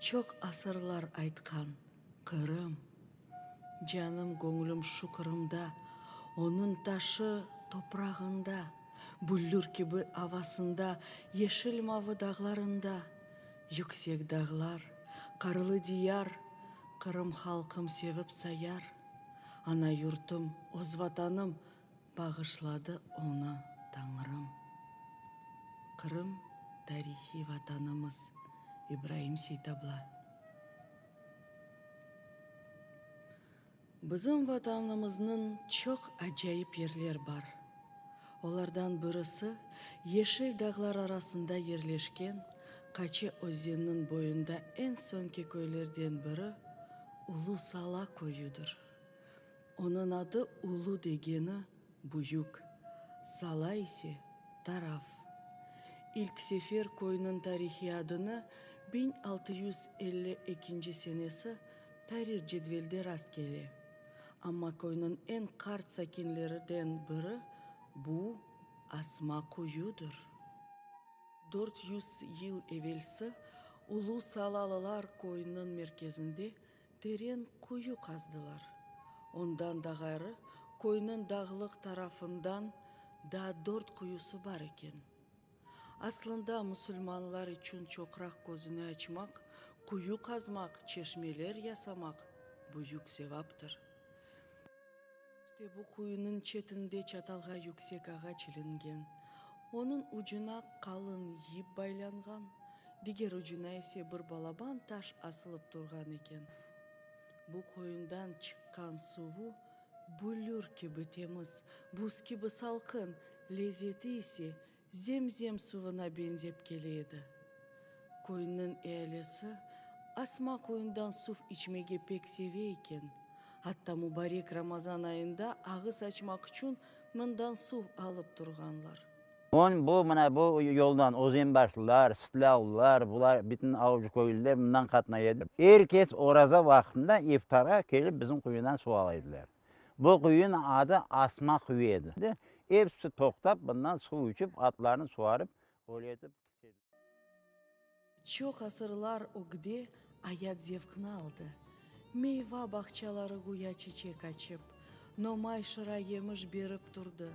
Çoq asırlar aytqan Qırım, Canım, göñlüm şu Qırımda, Onıñ taşı, toprağında, Büllür kibi avasında, Yeşil-mavı dağlarında. Yüksek dağlar, qarlı diyar, Qırım halqım sevip sayar. Ana yurtum, öz Vatanım! Bağışladı onı Tañrım. Qırım, tarihiy Vatanımız, İbraim Seytabla. Bizim Vatanımıznıñ çoq acayip yerler bar. Olardan birisi, yeşil dağlar arasında yerleşken Qaçe özeniniñ boyunda eñ soñki köylerden biri Ulu Sala köyüdir. Onıñ adı Ulu degeni büyük, Sala ise, taraf. İlk sefer köyniñ tarihiy adını biñ altı yüz elli ekinci senesi tarih cedvelde rast kele, amma köyniñ eñ qart sakinleriden biri bu asma qoyudır. Dört yüz yıl evelsi Ulu Salalılar köyüniñ merkezinde Teren quyu qazdılar. Ondan da ğayrı, köyniñ dağlıq tarafından da dört quyusı bar eken. Aslında, musulmanlar içün çoqraq közüni açmaq, quyu qazmaq, çeşmeler yasamaq büyük sevaptır. İşte bu quyunıñ çetinde çatalğa yüksek ağaç ilingen. Onıñ ucuna qalın yip baylanğan, diger ucuna ise bir balaban taş asılıp turğan eken. Bu quyundan çıqqan suvu bülür kibi temiz, buz kibi salqın, lezzeti ise Zem-zem suvına beñzep kele edi. Köyniñ ealisi Asma quyundan suv içmege pek seve eken, atta mubarek Ramazan ayında ağız açmaq içün mından suv alıp turğanlar. Soñ bu, mına bu yoldan özenbaşlılar, sıtlavlılar, bular bütün avcı köylüler mından qatnay edi. Er kes oraza vaqtında iftarğa kelip bizim quyudan suv ala ediler. Bu quyunıñ adı Asma quyu edi. Episi toqtap, bundan suv içip, atlarını suvarıp, öyle etip. Çoq asırlar ögde ayat zevqni aldı. Meyva bağçaları güya çiçek açıp, nomay şıra yemiş berip turdı.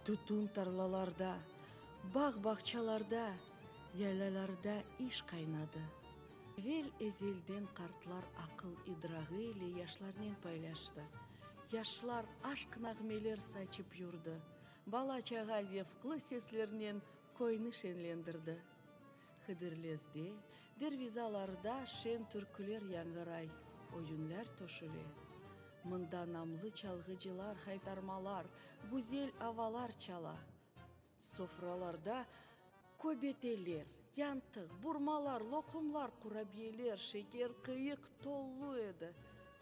Tütün tarlalarda, bağ-bağçalarda, yaylalarda iş qaynadı. Evel ezelden qartlar aqıl-idrağı ile yaşlarnen paylaştı. Yaşlar aşq nağmeler saçıp yurdı, bala-çağa zevqlı seslernen köyni şenlendirdi. Hıdırlezde, dervizalarda şen türküler yañğıray, oyunlar toşüle. Mında namlı çalğıcılar haytarmalar, güzel avalar çala. Sofralarda köbeteler, yantıq, burmalar, loqumlar, qurabiyeler, şeker, qıyıq tolu edi.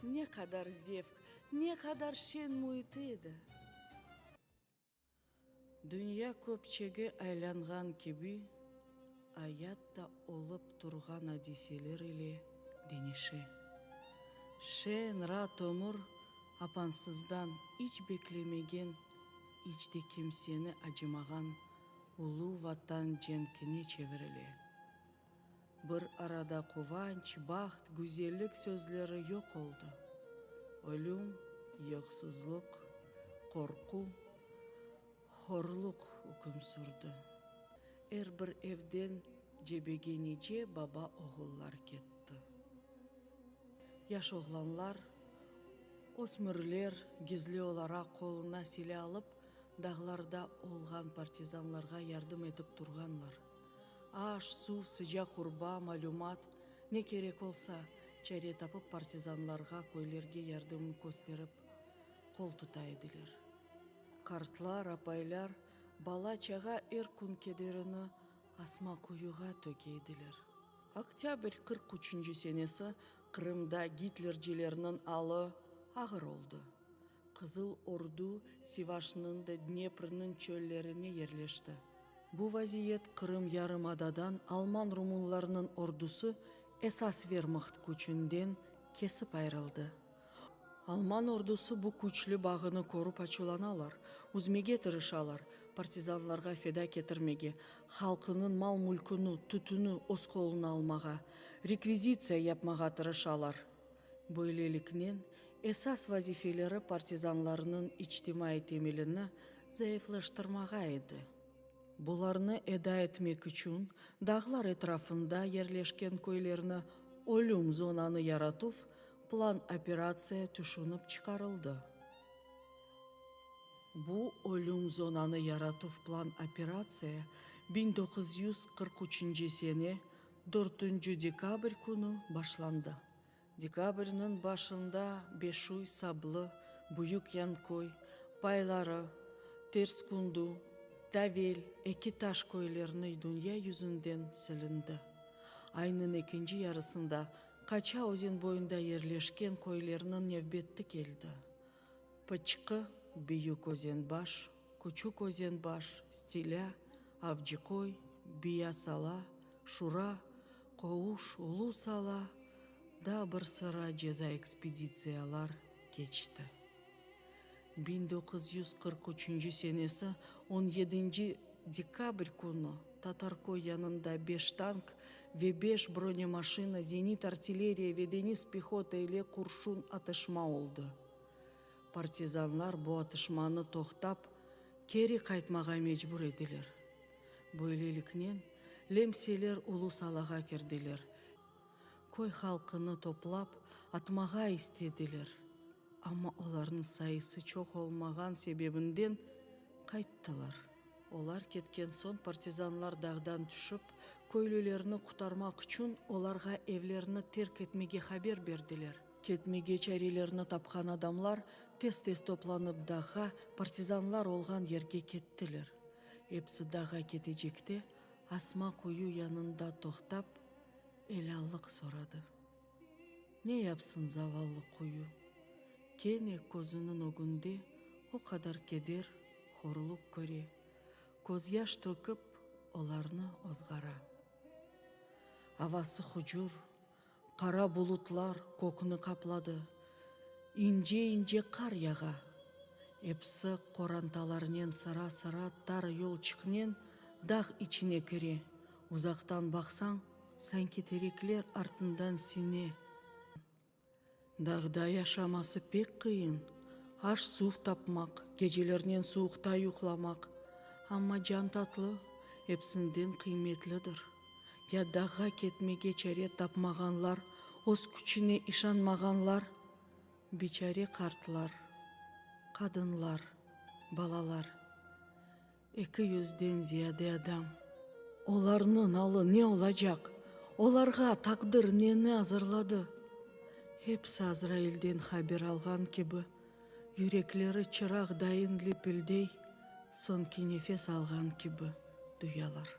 Ne qadar zevq, ne qadar şeñ müit edi! Dünya köpçege aylanğan kibi. Ayat da olıp turğan adiseler ile deñişe. Şeen ra tömür apansızdan iç beklemegen, iç de kimseni acımağan ulu Vatan cenkine çevirile. Bir arada quvanç, baht, güzellik sözleri yoq oldı. Ölüm, yoqsuzluq, qorqu. Horluq üküm sürdi. Er bir evden cebege nice baba oğullar ketti. Yaş oğlanlar, ösmürler gizli olaraq qoluna sile alıp dağlarda olğan partizanlarğa yardım etip turğanlar. Aş, suv, sıcaq urba, malümat, ne kerek olsa, çare tapıp partizanlarğa, köylerge yardımın kösterip qol tuta ediler. Qartlar, apaylar, bala-çağa er kün kederini asma quyuğa töke ediler. Oktâbr qırq üçünci senesi Qırımda gitlercilerniñ alı ağır oldı. Qızıl Ordu Sivaşnıñ da Dneprniñ çöllerine yerleşti. Bu vaziyet Qırım yarımadadan alman-rumunlarnıñ ordusı esas vermaht küçünden kesip ayrıldı. Alman ordusı bu küçlü bağını körüp açuvlanalar, üzmege tırışalar, partizanlarğa feda ketirmege, halqınıñ mal-mülkünü, tütünü öz qoluna almağa, rekvizitsiya yapmağa tırışalar. Böyleliknen, esas vazifeleri partizanlarnıñ içtimaiy temelini zayıflaştırmağa edi. Bularnı eda etmek içün dağlar etrafında yerleşken köylerni ölüm zonanı yaratuv, Plan operatsiya tüşünip çıqarıldı. Bu ölüm zonanı yaratuv plan operatsiya biñ doquz yüz qırq üçünci sene dörtünci dekabr künü başlandı. Dekabrniñ başında Beşuy, Sablı, Büyük Yanköy, payları, Terskundu, Tavel, Eki Taş köylerini dünya yüzünden silindi. Aynıñ ekinci yarısında Qaça özen boyunda yerleşken köylerniñ nevbetti keldi. Pıçqı, Büyük Özenbaş, Küçük Özenbaş, Stilâ, Avcıköy, Biya Sala, Şura, Qovuş, Ulu Sala, da bir sıra ceza ekspeditsiyalar keçti. Biñ doquz yüz qırq üçünci senesi on yedinci dekabr künü Tatarköy yanında beş tank ve beş bronemaşina, zenit artilleriya ve deñiz pehota ile qurşun atışma oldı. Partizanlar bu atışmanı toqtap, keri qaytmağa mecbur ediler. Böyleliknen, lemseler Ulu Salağa kirdiler. Köy halqını toplap atmağa istediler, amma olarnıñ sayısı çoq olmağan sebebinden qayttılar. Olar ketken soñ partizanlar dağdan tüşip, köylülerni qutarmaq içün olarğa evlerini terk etmege haber berdiler. Ketmege çarelerini tapqan adamlar tez-tez toplanıp dağğa, partizanlar olğan yerge kettiler. Episi dağğa ketecekte Asma quyu yanında toqtap. Elâllıq soradı. Ne yapsın zavallı quyu, kene közüniñ ögünde o qadar keder, horluq köre, közyaş tökip, olarnı ozğara. Avası hucur, qara bulutlar kökni qapladı, ince-ince qar yağa. Episi qorantalarnen sıra-sıra tar yolçıqnen dağ içine kire. Uzaqtan baqsañ, sanki terekler artından sine. Dağda yaşaması pek qıyın, aş-suv tapmaq, gecelernen suvuqta yuqlamaq, amma can tatlı, epsinden qıymetlidir. Ya dağğa ketmege çare tapmağanlar, öz küçüne işanmağanlar, biçare qartlar, qadınlar, balalar. Eki yüzden ziyade adam. Olarnıñ alı ne olacaq? Olarğa taqdir neni azırladı? Hepsi Azrailden haber alğan kibi, yürekleri çıraq dayın lipildey, soñki nefes alğan kibi duyalar.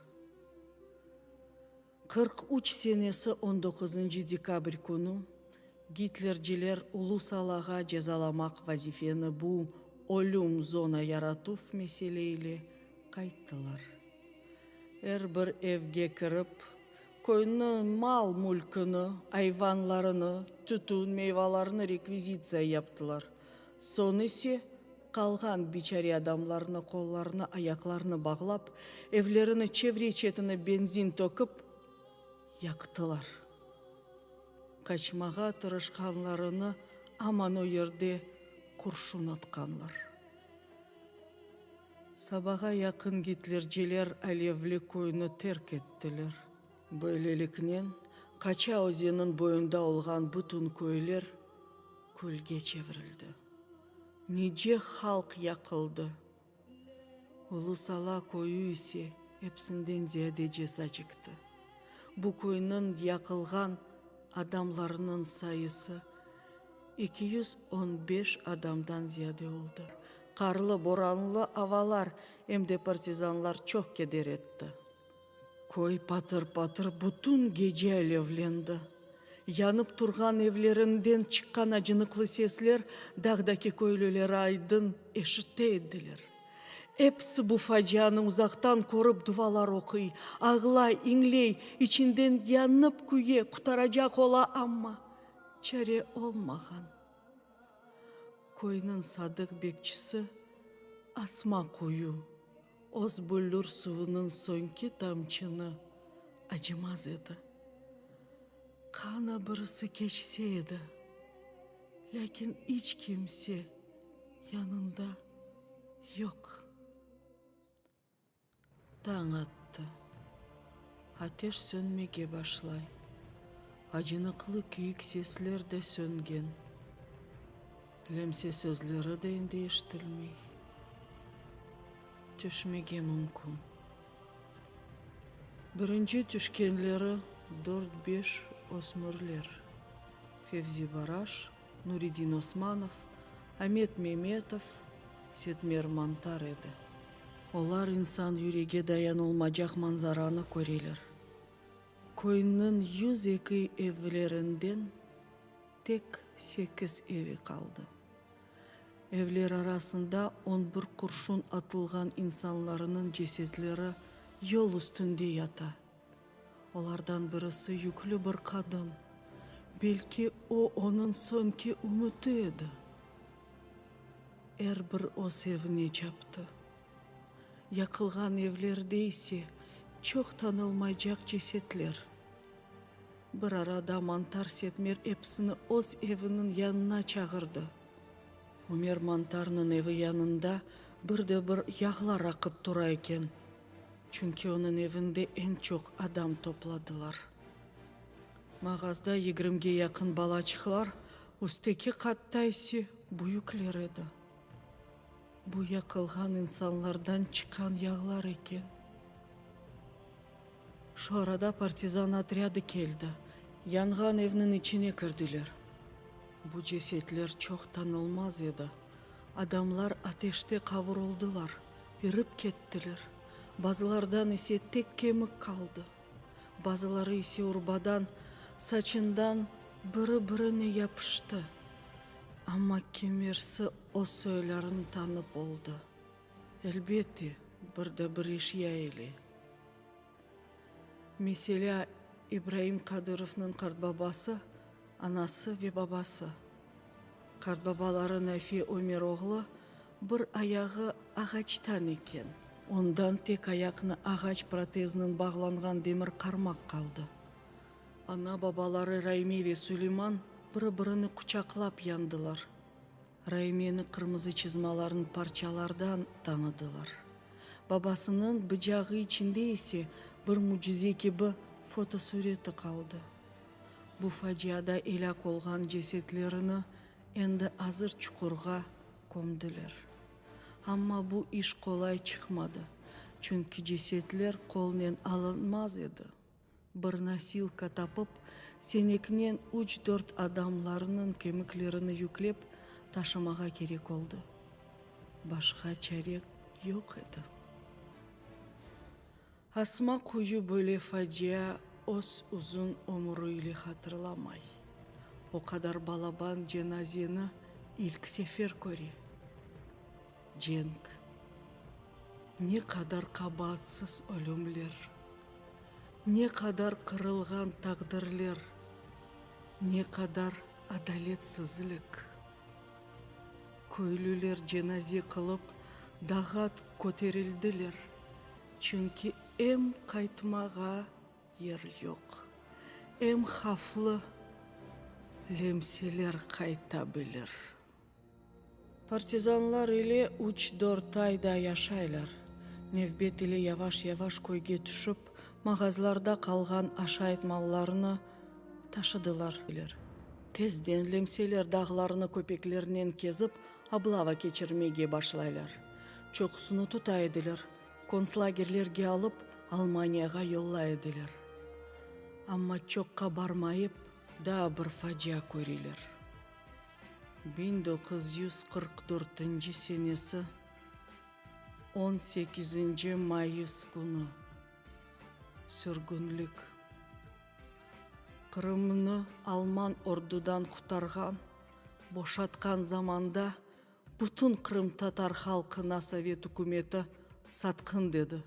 Qırq üç senesi on doquzıncı dekabr künü gitlerciler ulu salağa cezalamaq vazifeni bu ölüm zona yaratuv mesele ile qayttılar. Er bir evge kirip, köyni mal-mülkini, ayvanlarını, tütün, meyvalarını rekvizitsiya yaptılar, soñ ise Qalğan biçare adamlarnı qollarını, ayaqlarını bağlap, evlerini, çevre-çetini benzin tökip, yaqtılar. Qaçmağa tırışqanlarını aman o yerde qurşun atqanlar. Sabağa yaqın gitlerciler alevli köyni terk ettiler. Böyleliknen, Qaça özeniñ boyunda olğan bütün köyler külge çevirildi. Nice halq yaqıldı. Ulu Sala köyü ise epsinden ziyade ceza çekti. Bu köyniñ yaqılğan adamlarınıñ sayısı eki yüz on beş adamdan ziyade oldı. Qarlı-boranlı avalar em de partizanlar çoq keder etti. Köy patır-patır bütün gece alevlendi. Yanıp turğan evlerinden çıqqan acınıqlı sesler dağdaki köylüler aydın eşite ediler. Episi bu facianı uzaqtan körip duvalar oquy, ağlay, iñley, içinden yanıp küye, qutaracaq ola, amma çare olmağan. Köyniñ sadıq bekçisi Asma quyu. Öz büllür suvunıñ soñki tamçını acımaz edi. Qana birisi keçse edi, lâkin iç kimse yanında yoq. Tañ attı. Ateş sönmege başlay. Acınıqlı küyük sesler de söngen. Lemse sözleri de endi eşitilmey. Tüşmege mümkün. Birinci tüşkenleri dört-beş ösmürler, Fevzi Baraş, Nuridin Osmanov, Amet Memetov, Setmer Mantar edi. Olar insan yürege dayanılmacaq manzaranı köreler, köyniñ yüz eki evlerinden, Tek sekiz evi qaldı. Evler arasında on bir qurşun atılğan insanlarınıñ cesetleri yol üstünde yata. Olardan birisi yüklü bir qadın. Belki, o, onıñ soñki ümüti edi. Er bir öz evine çaptı. Yaqılğan evlerde ise çoq tanılmaycaq cesetler. Bir arada Mantar Setmer episini öz eviniñ yanına çağırdı. Ümer Mantarnıñ evi yanında bir de bir yağlar aqıp tura eken, çünki onıñ evinde eñ çoq adam topladılar. Mağazda yigrimge yaqın balaçıqlar, üstteki qatta ise büyükler edi. Bu yaqılğan insanlardan çıqqan yağlar eken. Şu arada partizan otrâdı keldi, yanğan evniñ içine kirdiler. Bu cesetler çoq tanılmaz edi. Adamlar ateşte qavurıldılar, irip kettiler. Bazılardan ise tek kemik qaldı. Bazıları ise urbadan, saçından biri-birine yapıştı. Amma kimersi O soylarını tanıp oldı. Elbette, bir de bir iş ya ile. Meselâ, İbraim Kadırovnıñ qartbabası, anası ve babası. Qartbabaları Nafi Ömeroğlu bir ayağı ağaçtan eken. Ondan tek ayaqnı ağaç protezinen bağlanğan demir qarmaq qaldı. Ana-babaları Raimi ve Suleyman biri-birini quçaqlap yandılar. Raimiyeni qırmızı çızmaların parçalardan tanıdılar. Babasınıñ bıcağı içinde ise bir mücize kibi fotosureti qaldı. Bu faciada elâk olğan cesetlerini endi azır çuqurğa kömdüler. Amma bu iş qolay çıqmadı, çünki cesetler qolnen alınmaz edi. Bir nosilka tapıp, seneknen üç-dört adamlarnıñ kemiklerini yüklep taşımağa kerek oldı. Başqa çare yoq edi. Asma quyu böyle facia öz uzun ömürü ile hatırlamay. O qadar balaban cenazeni ilk sefer köre. Cenk, ne qadar qabaatsız ölümler, ne qadar qırılğan taqdirler, ne qadar adaletsizlik! Köylüler cenaze qılıp dağat köterildiler, çünki em qaytmağa yer yoq, em havflı lemseler qayta bilir. Partizanlar ile üç-dört ay da yaşaylar. Nevbet ile yavaş-yavaş köyge tüşip, mağazlarda qalğan aşayt mallarını taşıdılar. Tezden Lemseler dağlarını köpeklernen kezip, oblava keçirmege başlaylar. Çoqusını tuta ediler, kontslagerlerge alıp, Almaniyağa yolla ediler. Amma çoqqa barmayıp, daa bir facia körüler. Biñ doquz yüz qırq dörtünci senesi on sekizinci mayıs künü sürgünlik Qırımnı alman ordudan qutarğan, boşatqan zamanda bütün qırımtatar halqına sovet ükümeti satqın dedi.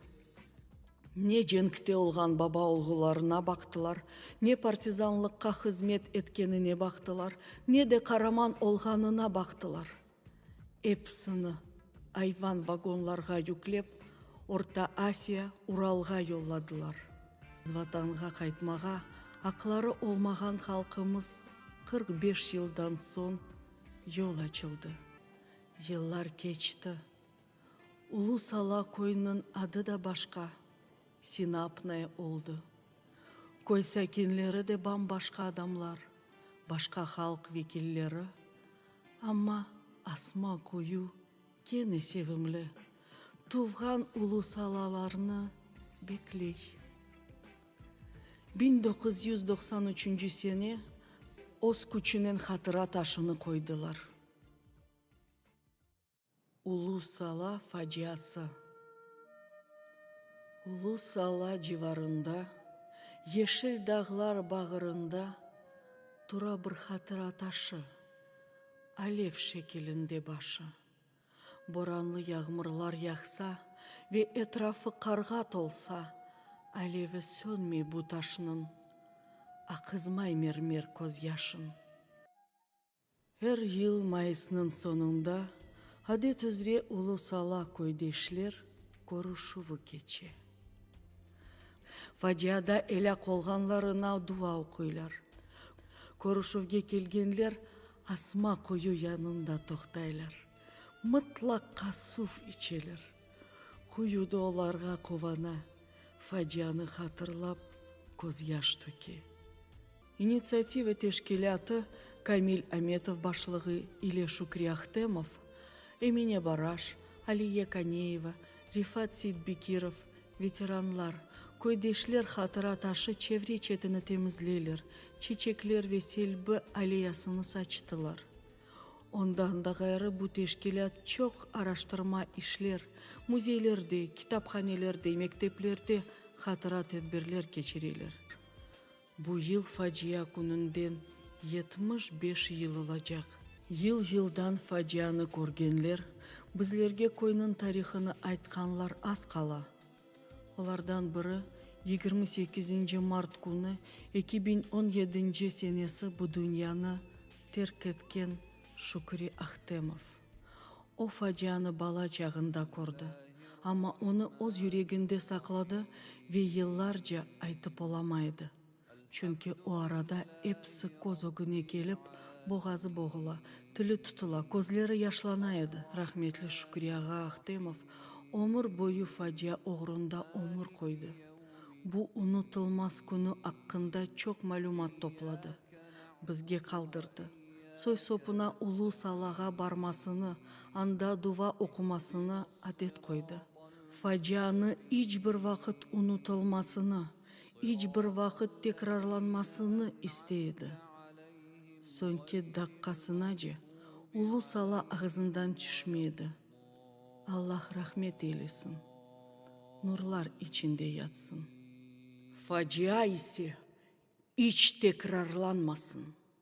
Ne cenkte olğan baba-olğularına baqtılar, ne partizanlıqqa hızmet etkenine baqtılar, ne de qaraman olğanına baqtılar. Episini ayvan vagonlarğa yüklep, Orta Asiya, Uralğa yolladılar. Vatanğa qaytmağa aqları olmağan halqımız qırq beş yıldan soñ yol açıldı. Yıllar keçti. Ulu Sala köyüniñ adı da başqa, Sinapnaya oldı. Köy sakinleri de bam-başqa adamlar, başqa halq vekilleri, amma asma koyu kene sevimli, tuvğan Ulu Salalarnı bekley. Biñ doquz yüz doqsan üçünci sene öz küçünen hatıra taşını qoydılar. Ulu Sala faciası. Ulu Sala civarında, yeşil dağlar bağırında tura bir hatıra taşı, alev şekilinde başı. Boranlı yağmurlar yağsa ve etrafı qarğa tolsa, alevi sönmey bu taşnıñ, aqızmay mermer közyaşıñ. Er yıl mayısnıñ soñunda, adet üzre, Ulu-Sala köydeşler körüşüvi keçe. Faciada elâk olğanlarına dua oquylar. Körüşüvge kelgenler asma quyu yanında toqtaylar, mıtlaqa suv içeler. Quyu da olarğa quvana, facianı hatırlap, közyaş töke. İnitsiativa teşkilâtı Kamil Ametov başlığı ile Şükri Ahtemov, Emine Baraş, Aliye Kaneyeva, Rifat Seitbekirov, veteranlar, köydeşler hatıra taşı çevre çetini temizleyler, çeçekler ve selbi aleyasını saçtılar. Ondan da ğayrı bu teşkilât çoq araştırma işler, müzeylerde, kitaphanelerde, mekteplerde hatıra tedbirler keçireler. Bu yıl facia kününden yetmiş beş yıl olacaq. Yıl-yıldan facianı körgenler, bizlerge köyniñ tarihını aytqanlar az qala. Olardan biri, yigirmi sekizinci mart künü eki biñ on yedinci senesi bu dünyanı terk etken Şükri Ahtemov. O facianı bala çağında kördi, amma onı öz yüreginde saqladı ve yıllarca aytıp olamay edi, çünki o arada episi köz ögüne kelip, boğazı boğula, tili tutula, közleri yaşlana edi. Rahmetli Şükri ağa Ahtemov ömür boyu facia oğrunda ömür qoydı. Bu unutılmaz künü aqqında çoq malümat topladı, bizge qaldırdı. soy-sopuna Ulu Salağa barmasını, anda duva oqumasını adet qoydı. Facianı iç bir vaqıt unutılmasını, iç bir vaqıt tekrarlanmasını istey edi. Soñki daqqasınace Ulu Sala ağızından tüşmey edi. Allah rahmet eylesin, nurlar içinde yatsın. Facia ise iç tekrarlanmasın!